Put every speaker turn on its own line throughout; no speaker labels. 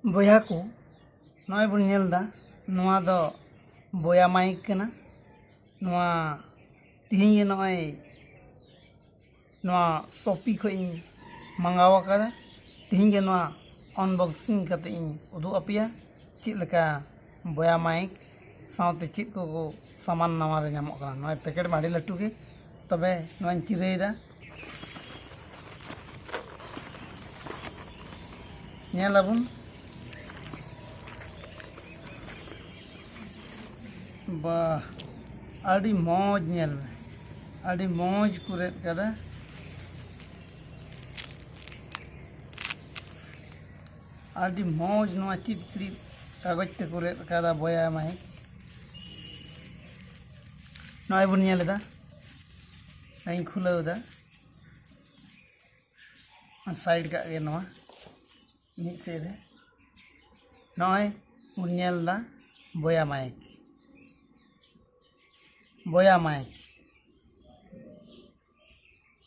ᱵᱚᱭᱦᱟ ᱠᱚ ᱱᱚᱜᱼᱚᱭ ᱵᱚᱱ ᱧᱮᱞ ᱮᱫᱟ ᱱᱚᱣᱟ ᱫᱚ ᱵᱚᱭᱟ ᱢᱟᱭᱤᱠ ᱠᱟᱱᱟ ᱱᱚᱣᱟ ᱛᱮᱦᱤᱧ ᱜᱮ ᱱᱚᱜᱼᱚᱭ ᱱᱚᱣᱟ ᱥᱚᱯᱤ ᱠᱷᱚᱡ ᱤᱧ ᱢᱟᱸᱜᱟᱣ ᱟᱠᱟᱫᱟ ᱛᱤᱦᱤᱧ ᱜᱮ ᱱᱚᱣᱟ ᱟᱱᱵᱚᱠᱥᱤᱝ ᱠᱟᱛᱮ ᱤᱧ ᱩᱫᱩᱜ ᱟᱯᱮᱭᱟ ᱪᱮᱫ ᱞᱮᱠᱟ ᱵᱚᱭᱟ ᱢᱟᱭᱤᱠ ᱥᱟᱶᱛᱮ ᱪᱮᱫ ᱠᱚ ᱠᱚ ᱥᱟᱢᱟᱱ ᱱᱟᱣᱟ ᱨᱮ ᱧᱟᱢᱚᱜ ᱠᱟᱱᱟ ᱱᱚᱜᱼᱚᱭ ᱯᱮᱠᱮᱴ ᱢᱟ ᱟᱹᱰᱤ ᱞᱟᱹᱴᱩ ᱜᱮ ᱛᱚᱵᱮ ᱱᱚᱣᱟᱧ ᱪᱤᱨᱟᱹᱭᱮᱫᱟ ᱧᱮᱞ ᱟᱵᱚᱱ ᱵᱟ ᱟᱹᱰᱤ ᱢᱚᱡᱽ ᱧᱮᱞ ᱢᱮ ᱟᱹᱰᱤ ᱢᱚᱡᱽ ᱠᱚ ᱨᱮᱫ ᱠᱟᱫᱟ ᱟᱹᱰᱤ ᱢᱚᱡᱽ ᱱᱚᱣᱟ ᱪᱤᱫ ᱪᱤᱫ ᱠᱟᱜᱚᱡᱽ ᱛᱮᱠᱚ ᱨᱮᱫ ᱠᱟᱫᱟ ᱵᱚᱭᱟ ᱢᱟᱭ ᱱᱚᱜᱼᱚᱭ ᱵᱚᱱ ᱧᱮᱞ ᱮᱫᱟ ᱱᱚᱜᱼᱚᱭ ᱤᱧ ᱠᱷᱩᱞᱟᱹᱣ ᱮᱫᱟ ᱥᱟᱭᱤᱰ ᱠᱟᱜ ᱜᱮ ᱱᱚᱣᱟ ᱢᱤᱫ ᱥᱮᱫ ᱨᱮ ᱱᱚᱜᱼᱚᱭ ᱵᱚᱱ ᱧᱮᱞ ᱮᱫᱟ ᱵᱚᱭᱟ ᱢᱟᱭᱤᱠ ᱵᱚᱭᱟ ᱢᱟᱭᱤᱠ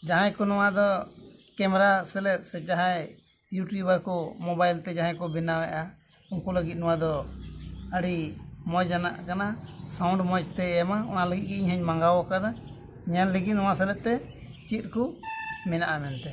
ᱡᱟᱦᱟᱸᱭ ᱠᱚ ᱱᱚᱣᱟ ᱫᱚ ᱠᱮᱢᱮᱨᱟ ᱥᱮᱞᱮᱫ ᱥᱮ ᱡᱟᱦᱟᱸᱭ ᱤᱭᱩᱴᱩᱵᱟᱨ ᱠᱚ ᱢᱳᱵᱟᱭᱤᱞ ᱛᱮ ᱡᱟᱦᱟᱸᱭ ᱠᱚ ᱵᱮᱱᱟᱣᱮᱫᱼᱟ ᱩᱱᱠᱩ ᱞᱟᱹᱜᱤᱫ ᱱᱚᱣᱟ ᱫᱚ ᱟᱹᱰᱤ ᱢᱚᱡᱽ ᱟᱱᱟᱜ ᱠᱟᱱᱟ ᱥᱟᱣᱩᱱᱰ ᱢᱚᱡᱽ ᱛᱮᱭ ᱮᱢᱟ ᱚᱱᱟ ᱞᱟᱹᱜᱤᱫ ᱜᱮ ᱤᱧ ᱦᱚᱸᱧ ᱢᱟᱸᱜᱟᱣ ᱟᱠᱟᱫᱟ ᱧᱮᱞ ᱞᱮᱜᱮᱧ ᱱᱚᱣᱟ ᱥᱮᱞᱮᱫ ᱛᱮ ᱪᱮᱫ ᱠᱚ ᱢᱮᱱᱟᱜᱼᱟ ᱢᱮᱱᱛᱮ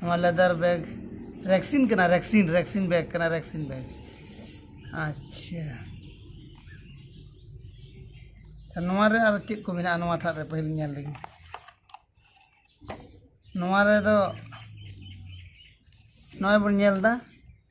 ᱱᱚᱣᱟ ᱞᱮᱫᱟᱨ ᱵᱮᱜᱽ ᱨᱮᱠᱥᱤᱱ ᱠᱟᱱᱟ ᱨᱮᱠᱥᱤᱱ ᱨᱮᱠᱥᱤᱱ ᱵᱮᱜᱽ ᱠᱟᱱᱟ ᱨᱮᱠᱥᱤᱱ ᱵᱮᱜᱽ ᱟᱪᱪᱷᱟ ᱱᱚᱣᱟ ᱨᱮ ᱟᱨ ᱪᱮᱫ ᱠᱚ ᱢᱮᱱᱟᱜᱼᱟ ᱱᱚᱣᱟ ᱴᱷᱟᱜ ᱨᱮ ᱯᱟᱹᱦᱤᱞ ᱧᱮᱞ ᱞᱮᱜᱮ ᱱᱚᱣᱟ ᱨᱮᱫᱚ ᱱᱚᱜᱼᱚᱭ ᱵᱚᱱ ᱧᱮᱞᱫᱟ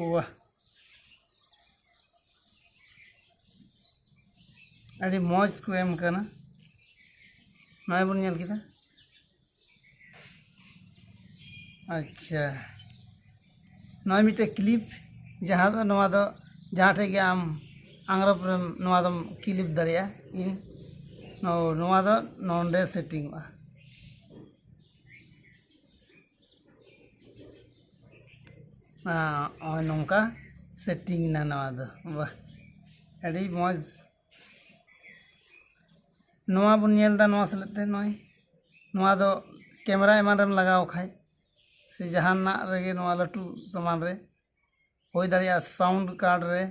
ᱳᱣᱟᱦ ᱟᱹᱰᱤ ᱢᱚᱡᱽ ᱠᱚ ᱮᱢ ᱠᱟᱱᱟ ᱱᱚᱜᱼᱚᱭ ᱵᱚᱱ ᱧᱮᱞ ᱠᱮᱫᱟ ᱟᱪᱪᱷᱟ ᱱᱚᱜᱼᱚᱭ ᱢᱤᱫᱴᱮᱡ ᱠᱞᱤᱯ ᱡᱟᱦᱟᱸ ᱫᱚ ᱱᱚᱣᱟ ᱫᱚ ᱡᱟᱦᱟᱸ ᱴᱷᱮᱡ ᱜᱮ ᱟᱢ ᱟᱝᱨᱚᱵ ᱨᱮᱢ ᱱᱚᱣᱟ ᱫᱚᱢ ᱠᱞᱤᱯ ᱫᱟᱲᱮᱭᱟᱜᱼᱟ ᱤᱧ ᱱᱚᱣᱟ ᱫᱚ ᱱᱚᱰᱮ ᱥᱮᱴᱤᱝᱚᱜᱼᱟ ᱱᱚᱜᱼᱚᱭ ᱱᱚᱝᱠᱟ ᱥᱮᱴᱤᱝ ᱮᱱᱟ ᱱᱚᱣᱟ ᱫᱚ ᱵᱟᱦ ᱟᱹᱰᱤ ᱢᱚᱡᱽ ᱱᱚᱣᱟ ᱵᱚᱱ ᱧᱮᱞ ᱮᱫᱟ ᱱᱚᱣᱟ ᱥᱮᱞᱮᱫ ᱛᱮ ᱱᱚᱜᱼᱚᱭ ᱱᱚᱣᱟ ᱫᱚ ᱠᱮᱢᱮᱨᱟ ᱮᱢᱟᱱ ᱨᱮᱢ ᱞᱟᱜᱟᱣ ᱠᱷᱟᱡ ᱥᱮ ᱡᱟᱦᱟᱱᱟᱜ ᱨᱮᱜᱮ ᱱᱚᱣᱟ ᱞᱟᱹᱴᱩ ᱥᱟᱢᱟᱱ ᱨᱮ ᱦᱩᱭ ᱫᱟᱲᱮᱭᱟᱜᱼᱟ ᱥᱟᱣᱩᱱᱰ ᱠᱟᱨᱰ ᱨᱮ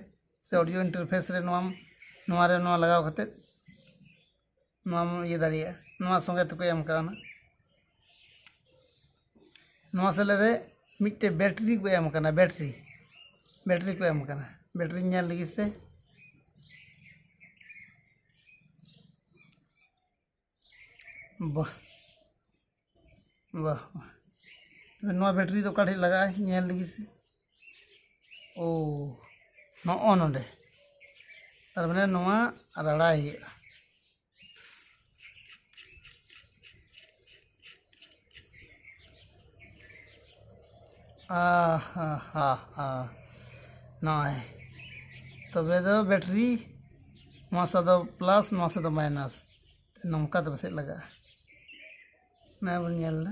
ᱥᱮ ᱚᱰᱤᱭᱳ ᱤᱱᱴᱟᱨᱯᱷᱮᱥ ᱨᱮ ᱱᱚᱣᱟᱢ ᱱᱚᱣᱟ ᱨᱮ ᱱᱚᱣᱟ ᱞᱟᱜᱟᱣ ᱠᱟᱛᱮ ᱱᱚᱣᱟᱢ ᱤᱭᱟᱹ ᱫᱟᱲᱮᱭᱟᱜᱼᱟ ᱱᱚᱣᱟ ᱥᱚᱸᱜᱮ ᱛᱮᱠᱚ ᱮᱢ ᱠᱟᱣᱱᱟ ᱱᱚᱣᱟ ᱥᱮᱞᱮᱫ ᱨᱮ ᱢᱤᱫᱴᱮᱡ ᱵᱮᱴᱨᱤ ᱠᱚ ᱮᱢ ᱠᱟᱱᱟ ᱵᱮᱴᱨᱤ ᱵᱮᱴᱨᱤ ᱠᱚ ᱮᱢ ᱠᱟᱱᱟ ᱵᱮᱴᱨᱤ ᱧᱮᱞ ᱞᱟᱹᱜᱤᱫ ᱥᱮ ᱵᱟᱦ ᱵᱟᱦ ᱛᱚᱵᱮ ᱱᱚᱣᱟ ᱵᱮᱴᱨᱤ ᱫᱚ ᱚᱠᱟ ᱴᱷᱮᱡ ᱞᱟᱜᱟᱜᱼᱟ ᱧᱮᱞ ᱞᱮᱜᱮ ᱥᱮ ᱳ ᱱᱚᱜᱼᱚ ᱱᱚᱰᱮ ᱛᱟᱨ ᱢᱟᱱᱮ ᱱᱚᱣᱟ ᱨᱟᱲᱟᱭ ᱦᱩᱭᱩᱜᱼᱟ ᱱᱚᱜᱼᱚᱭ ᱛᱚᱵᱮ ᱫᱚ ᱵᱮᱴᱨᱤ ᱱᱚᱣᱟ ᱥᱟᱫᱚ ᱯᱞᱟᱥ ᱱᱚᱣᱟ ᱥᱟᱫᱚ ᱢᱟᱭᱱᱟᱥ ᱱᱚᱝᱠᱟ ᱫᱚ ᱯᱟᱥᱮᱡ ᱞᱟᱜᱟᱜᱼᱟ ᱚᱱᱟ ᱵᱚᱱ ᱧᱮᱞᱫᱟ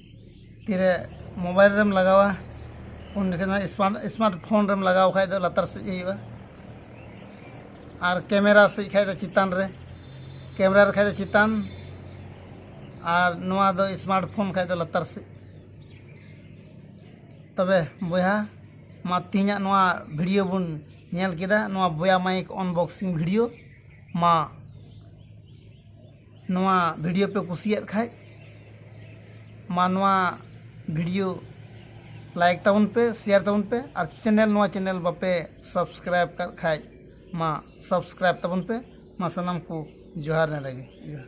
ᱛᱤᱨᱮ ᱢᱳᱵᱟᱭᱤᱞ ᱨᱮᱢ ᱞᱟᱜᱟᱣᱟ ᱩᱱ ᱡᱚᱠᱷᱚᱱ ᱫᱚ ᱥᱢᱟᱨᱴ ᱥᱢᱟᱨᱴ ᱯᱷᱳᱱ ᱨᱮᱢ ᱞᱟᱜᱟᱣ ᱠᱷᱟᱱ ᱫᱚ ᱞᱟᱛᱟᱨ ᱥᱮᱫ ᱜᱮ ᱦᱩᱭᱩᱜᱼᱟ ᱟᱨ ᱠᱮᱢᱮᱨᱟ ᱥᱮᱫ ᱠᱷᱟᱱ ᱫᱚ ᱪᱮᱛᱟᱱ ᱨᱮ ᱠᱮᱢᱮᱨᱟ ᱨᱮ ᱠᱷᱟᱱ ᱫᱚ ᱪᱮᱛᱟᱱ ᱟᱨ ᱱᱚᱣᱟ ᱫᱚ ᱥᱢᱟᱨᱴ ᱯᱷᱳᱱ ᱠᱷᱟᱱ ᱫᱚ ᱞᱟᱛᱟᱨ ᱥᱮᱫ ᱛᱚᱵᱮ ᱵᱚᱭᱦᱟ ᱢᱟ ᱛᱮᱦᱮᱧᱟᱜ ᱱᱚᱣᱟ ᱵᱷᱤᱰᱤᱭᱳ ᱵᱚᱱ ᱧᱮᱞ ᱠᱮᱫᱟ ᱱᱚᱣᱟ ᱵᱚᱭᱟ ᱢᱟᱭᱤᱠ ᱚᱱᱵᱚᱠᱥᱤᱝ ᱵᱷᱤᱰᱤᱭᱳ ᱢᱟ ᱱᱚᱣᱟ ᱵᱷᱤᱰᱤᱭᱳ ᱯᱮ ᱠᱩᱥᱤᱭᱟᱫ ᱠᱷᱟᱡ ᱢᱟ ᱱᱚᱣᱟ ᱵᱷᱤᱰᱤᱭᱳ ᱞᱟᱭᱤᱠ ᱛᱟᱵᱚᱱ ᱯᱮ ᱥᱮᱭᱟᱨ ᱛᱟᱵᱚᱱ ᱯᱮ ᱟᱨ ᱪᱮᱱᱮᱞ ᱱᱚᱣᱟ ᱪᱮᱱᱮᱞ ᱵᱟᱯᱮ ᱥᱟᱵᱥᱠᱨᱟᱭᱤᱵᱽ ᱠᱟᱜ ᱠᱷᱟᱡ ᱢᱟ ᱥᱟᱵᱥᱠᱨᱟᱭᱤᱵᱽ ᱛᱟᱵᱚᱱ ᱯᱮ ᱢᱟ ᱥᱟᱱᱟᱢ ᱠᱚ ᱡᱚᱦᱟᱨ ᱱᱮᱰᱮ ᱜᱮ ᱡᱚᱦᱟᱨ